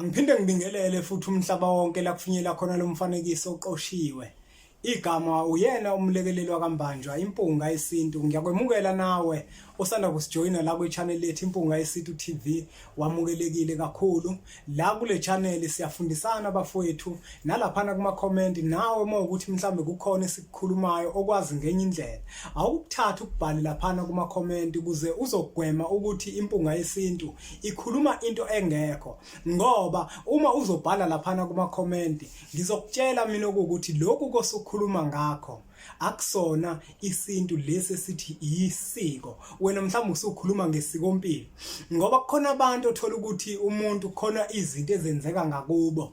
Angiphinde ngibingelele futhi umhlaba wonke la kufinyela khona lo mfanekiso oqoshiwe. Igama uyena umlekeleli wakambanjwa impunga yesintu ngiyakwemukela nawe osanda kusijoyina la kwi-channel lethu impunga yesintu TV wamukelekile kakhulu la kule channel siyafundisana bafowethu nalaphana kuma comment nawe uma ukuthi mhlambe kukhona esikukhulumayo okwazi ngenye indlela awukuthatha ukubhale laphana kuma comment ukuze uzogwema ukuthi impunga yesintu ikhuluma into engekho ngoba uma uzobhala laphana kuma comment ngizokutshela mina ukuthi lokhu kosukhuluma ngakho akusona isintu lesi esithi isiko wena mhlawumbe usukhuluma ngesikompilo ngoba kukhona abantu othola ukuthi umuntu khona izinto ezenzeka ngakubo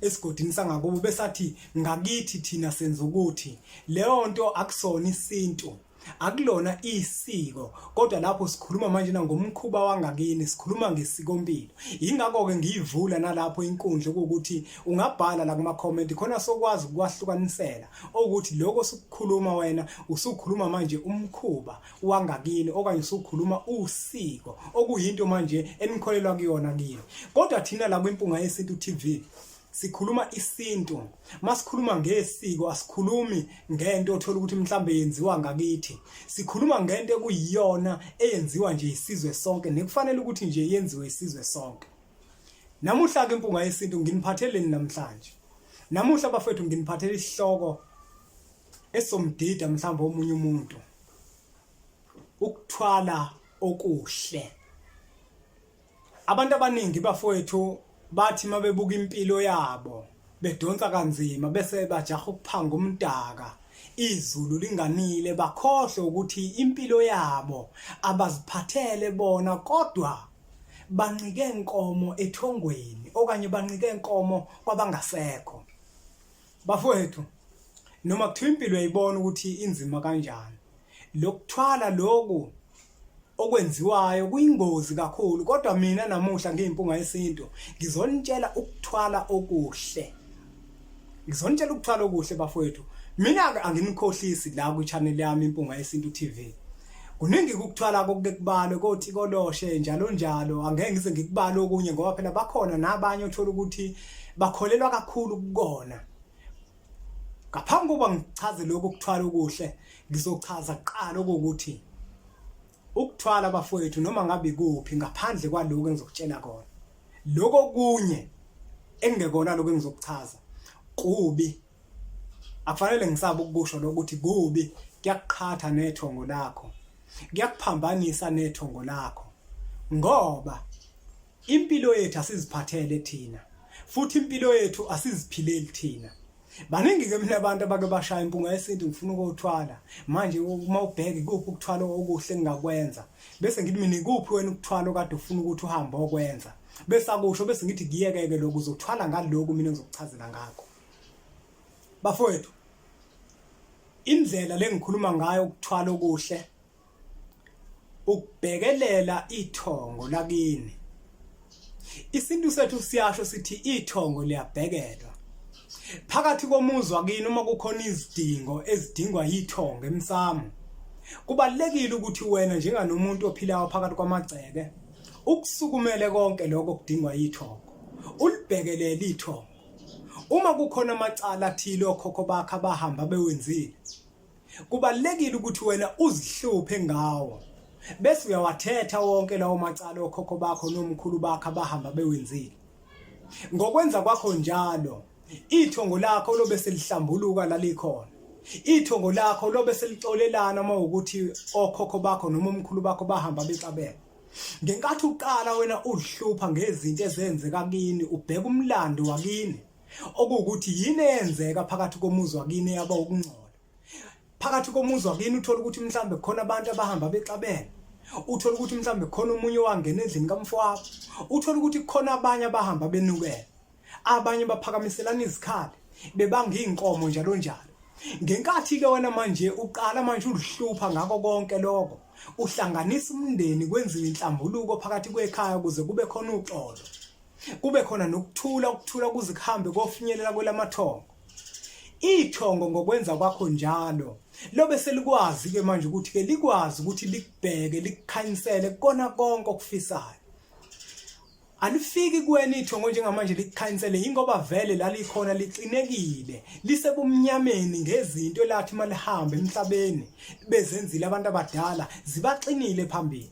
esigodini sangakubo besathi ngakithi thina senza ukuthi leyo nto akusona isintu akulona isiko kodwa lapho sikhuluma manje ngomkhuba wangakini sikhuluma ngesikompilo ingakho ke ngiyivula nalapho inkundla ukuthi ungabhala la kuma comment khona sokwazi ukwahlukanisela okuthi lokho osukukhuluma wena usukhuluma manje umkhuba wangakini okanye usukhuluma usiko okuyinto manje enikholelwa kuyona kini kodwa thina la kwimpunga yesintu TV sikhuluma isintu masikhuluma ngesiko asikhulumi ngento othola ukuthi mhlambe yenziwa ngakithi sikhuluma ngento ekuyiyona eyenziwa nje isizwe sonke nekufanele ukuthi nje yenziwe isizwe sonke namuhla ke impunga yesintu nginiphatheleni namhlanje Namuhla bafethu nginiphathela isihloko esomdida mhlawumbe omunye umuntu. Ukuthwala okuhle. Abantu abaningi bafowethu bathi mabebuka impilo yabo bedonsa kanzima bese bajaha ukuphanga umdaka izulu linganile bakhohle ukuthi impilo yabo abaziphathele bona kodwa banqike inkomo ethongweni okanye banqike inkomo kwabangasekho bafowethu noma kuthiwa impilo yayibona ukuthi inzima kanjani lokuthwala lokhu okwenziwayo kuyingozi kakhulu kodwa mina namuhla ngiyimpunga yesintu ngizonitshela ukuthwala okuhle Ngizonitshela ukuthwala okuhle bafowethu. Mina-ke anginikhohlisi la kwi-channel yami Impunga Yesintu TV. Kuningi ukuthwala kokuke kubalwe kothi koloshe njalo njalo angeke ngize ngikubale okunye ngoba phela bakhona nabanye othola ukuthi bakholelwa kakhulu kukona. Ngaphambi kokuba ngichaze lokhu kuthwala okuhle ngizochaza kuqala ukuthi ukuthwala bafowethu noma ngabe kuphi ngaphandle kwaloko engizokutshela kona. lokho kunye engekona lokho engizokuchaza kubi akufanele ngisabe ukusho lokuthi kubi kuyakuqhatha nethongo lakho kuyakuphambanisa nethongo lakho ngoba impilo yethu asiziphathele thina futhi impilo yethu asiziphileli thina baningi ke mina abantu abake bashaya impunga yesintu ngifuna ukuthwala manje uma ubheke kuphi ukuthwala okuhle ngingakwenza bese ngithi mina ikuphi wena ukuthwala okade ufuna ukuthi uhambe okwenza bese akusho bese ngithi kuyekeke lokho uzothwala ngaloku mina ngizokuchazela ngakho bafowethu indlela lengikhuluma ngayo ukuthwala okuhle ukubhekelela ithongo lakini isintu sethu siyasho sithi ithongo liyabhekelwa phakathi komuzi wakini uma kukhona izidingo ezidingwa yithongo emsamo kubalekile ukuthi wena njenganomuntu ophilayo phakathi kwamagceke ukusukumele konke lokho kudingwa yithongo ulibhekelele ithongo uma kukhona amacala athile okhokho bakhe abahamba bewenzile Kubalekile ukuthi wena uzihluphe ngawo. Bese uyawathetha wonke lawo macala okhokho bakho nomkhulu bakho abahamba bewenzile. Ngokwenza kwakho njalo, ithongo lakho lobe selihlambuluka lalikhona. Ithongo lakho lobe selixolelana uma ukuthi okhokho bakho noma omkhulu bakho bahamba bexabeka. Ngenkathi uqala wena uzihlupha ngezinto ezenzeka kini, ubheka umlando wakini. okuwukuthi yini eyenzeka phakathi komuzi wakini yaba ukungcola phakathi komuzi wakini uthola ukuthi mhlambe khona abantu abahamba bexabene uthola ukuthi mhlambe khona umunye wangena endlini kamfowabo uthola ukuthi khona abanye abahamba benukela abanye baphakamiselana izikhali bebanga izinkomo njalo njalo ngenkathi ke wena manje uqala manje ulihlupha ngako konke lokho uhlanganisa umndeni kwenziwe inhlambuluko phakathi kwekhaya ukuze kube khona uxolo kube khona nokuthula ukuthula kuze kuhambe kofinyelela kwelamathongo ithongo ngokwenza kwakho njalo lobe selikwazi ke manje ukuthi ke likwazi ukuthi likubheke likukhanyisele kona konke okufisayo alifiki kuwena ithongo njengamanje likukhanyisele ingoba vele lalikhona liqinekile lisebumnyameni ngezinto elathi malihambe emhlabeni bezenzile abantu abadala zibaxinile phambili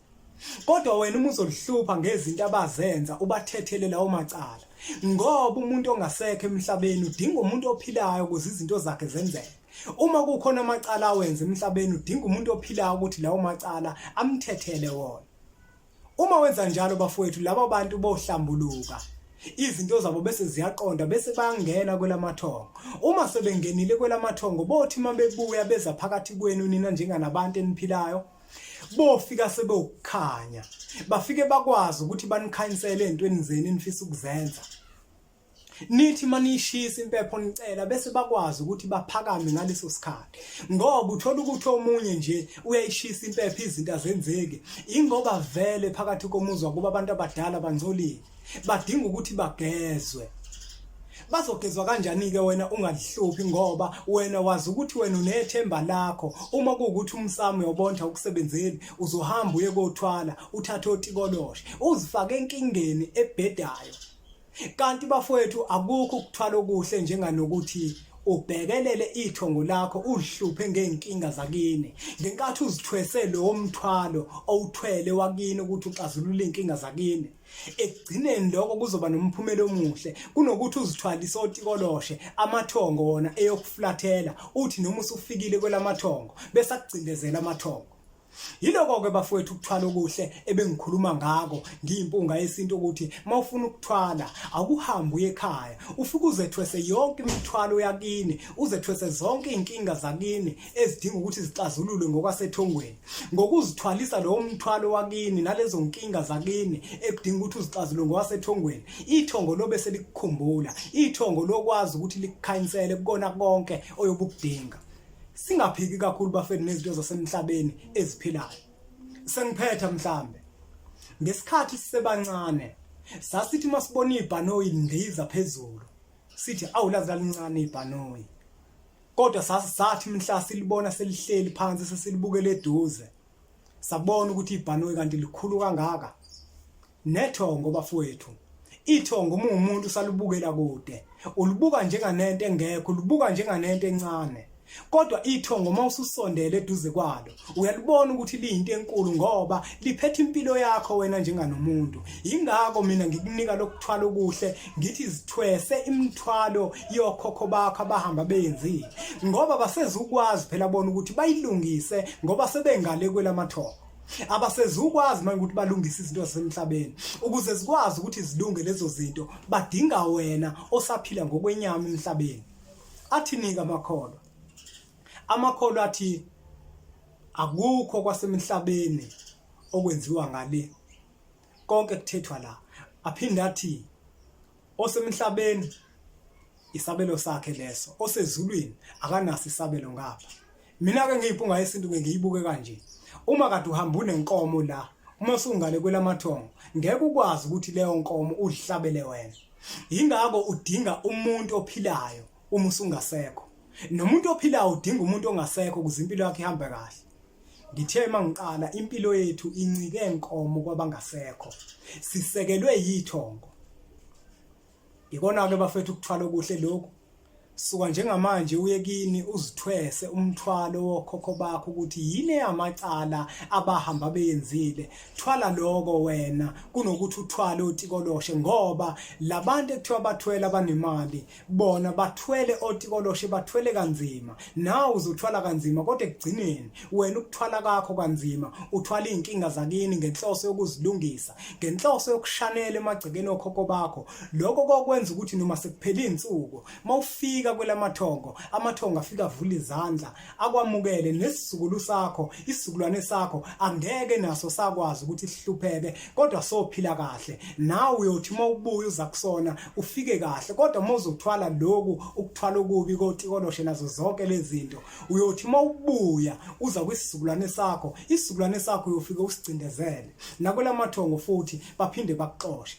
kodwa wena uma uzolihlupha ngezinto abazenza ubathethele lawo macala ngoba umuntu ongasekho emhlabeni udinga umuntu ophilayo ukuze izinto zakhe zenzeke uma kukhona amacala awenza emhlabeni udinga umuntu ophilayo ukuthi lawo macala amthethele wona uma wenza njalo bafowethu laba bantu bohlambuluka izinto zabo bese ziyaqonda bese bangena kwelamathongo uma sebengenile kwelamathongo bothi uma bebuya beza phakathi kwenu nina njenganabantu eniphilayo bofika sebewukukhanya bafike bakwazi ukuthi banikhanyisele entweni zenu enifisa ukuzenza nithi manishisa impepho nicela bese bakwazi ukuthi baphakame ngaleso sikhathi ngoba uthola ukuthi omunye nje uyayishisa impepho izinto azenzeki ingoba vele phakathi komuzwa kuba abantu abadala bangcolile badinga ukuthi bagezwe bazogezwa kanjani-ke wena ungalihluphi ngoba wena wazi ukuthi wena unethemba lakho uma kuwukuthi umsamo uyobonda ukusebenzeli uzohamba uye kothwala uthathe otikoloshe uzifake enkingeni ebhedayo kanti bafowethu akukho ukuthwala okuhle njenganokuthi ubhekelele ithongo lakho uzihluphe ngeenkinga zakini ngenkathi uzithwese lowo mthwalo owuthwele wakini ukuthi uxazulule inkinga zakini ekugcineni lokho kuzoba nomphumela omuhle kunokuthi uzithwalise otikoloshe amathongo wona eyokuflathela uthi noma usufikile kwelamathongo bese akugcindezela amathongo Yiloko-ke bafowethu ukuthwala okuhle ebengikhuluma ngako ngiyimpunga yesintu ukuthi uma ufuna ukuthwala akuhambe uye ekhaya ufike uzethwese yonke imithwalo yakini uzethwese zonke iy'nkinga zakini ezidinga ukuthi zixazululwe ngokwasethongweni ngokuzithwalisa lowo mthwalo wakini nalezo nkinga zakini ekudinga ukuthi uzixazulule ngokwasethongweni ithongo lobe selikukhumbula ithongo lokwazi ukuthi likukhanyisele kukona konke oyobukudinga singaphiki kakhulu bafethu nezinto zasemhlabeni eziphilayo sengiphetha mhlambe ngesikhathi sisebancane sasithi masibona ibhanoyi lindiza phezulu sithi awulazi lalincane ibhanoyi kodwa sathi mhla silibona selihleli phansi sesilibukele eduze sabona ukuthi ibhanoyi kanti likhulu kangaka nethongo bafowethu ithongo uma umuntu usalubukela kude ulibuka njenganento engekho ulibuka njenganento encane kodwa ithongo uma ususondele eduze kwalo uyalibona ukuthi liyinto enkulu ngoba liphethe impilo yakho wena njenganomuntu yingakho mina ngikunika lokuthwala okuhle ngithi zithwese imithwalo yokhokho bakho abahamba beyenzile ngoba basezukwazi phela bona ukuthi bayilungise ngoba sebengale kwelamathoko abasezukwazi manje ukuthi balungise izinto zasemhlabeni ukuze zikwazi ukuthi zilunge lezo zinto badinga wena osaphila ngokwenyama emhlabeni athinika amakholwa Amakholwa athi akukho kwasemhlabeni okwenziwa ngale konke kuthethwa la aphinde athi osemhlabeni isabelo sakhe leso osezulwini akanaso isabelo ngapha mina ke ngiyibhunga yesintu ngiyibuke kanje uma kade uhamba unenkomo la uma usungale kwelamathongo ngeke ukwazi ukuthi leyo nkomo uzihlabele wena yingakho udinga umuntu ophilayo uma usungasekho nomuntu ophilayo udinga umuntu ongasekho ukuze impilo yakhe ihambe kahle ngithe uma ngiqala impilo yethu incike nkomo kwabangasekho sisekelwe yithongo ikona-ke bafethu ukuthwala okuhle lokhu suka njengamanje uye kini uzithwese umthwalo wokhokho bakho ukuthi yini eyamacala abahamba beyenzile thwala lokho wena kunokuthi uthwale utikoloshe ngoba labantu ekuthiwa bathwele abanemali bona bathwele otikoloshe bathwele kanzima nawe uzothwala kanzima kodwa ekugcineni wena ukuthwala kakho kanzima uthwala izinkinga zakini ngenhloso yokuzilungisa ngenhloso yokushanela emagcekeni okhokho bakho lokho kokwenza ukuthi noma sekuphela izinsuku mawufika kwelamathongo amathongo afika avula izandla akwamukele nesizukulu sakho isizukulwane sakho angeke naso sakwazi ukuthi sihlupheke kodwa sophila kahle nawe uyothi uma ubuya uza kusona ufike kahle kodwa uma uzothwala lokhu ukuthwala okubi kotikoloshe nazo zonke lezinto uyothi uma ubuya uza kwisizukulwane sakho isizukulwane sakho uyofika usigcindezele nakwelamathongo futhi baphinde bakuxoshe